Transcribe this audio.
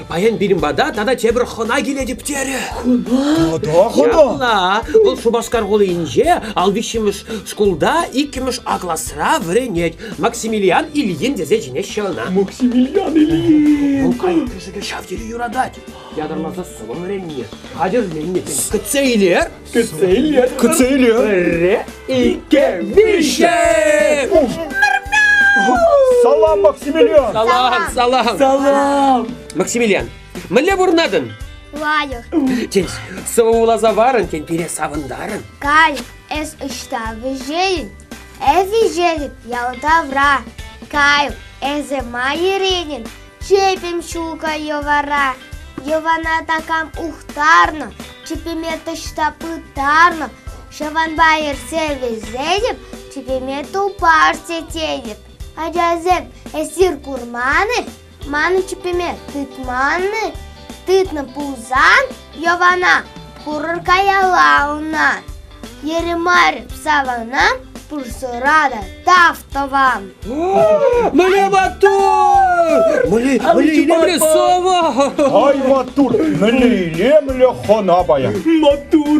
Паян пирӗн пата тата тепӗр хӑна килетӗп терӗ. Хӑна? Ҫапла. Вӑл Шупашкар хулинче ал виҫҫӗмӗш шкулта иккӗмӗш А класра вӗренет. Максимилиан Ильин тесе чӗнеҫҫӗ ӑна. Максимилиан Ильин. Вӑл кайран ҫав тери юратать. Ятӑрмаса сӑвӑ вӗренни, хатӗрленни. Кӗтсе илер. Кӗтсе илер. Кӗтсе илер. Пӗрре, икке, виҫе. Салам, Максимилиан! Салам, салам! Салам! Максимилиан, мӗнле пурӑнатӑн? Лайӑх. Тен, сӑвӑ вуласа варӑн, тен, пире савӑнтарӑн? Каль, эс ӑҫта вӗҫейӗн? Эс вӗҫетӗп ял тавра. Кайл, эсӗ ма еренӗн? Чӗпӗм ҫулкӑ йӑвара. Йӑвана такам ухтарнӑ, чӗпӗме таҫта пытарнӑ. Ҫаванпа ерсе вилсетӗп, чӗпӗме тупар сететӗп. Ачасем, эсир курман-и? Ман чӗпӗме тытман-и? Тытнӑ пулсан, Йӑвана курӑр каялла ӑна. Ермар савана пурсӑрата тав тӑвам. Мӗне маттур! Мӗле, мӗле илем! Сава! Ай, маттур! Мӗнле илемлӗ хона паян! Маттур!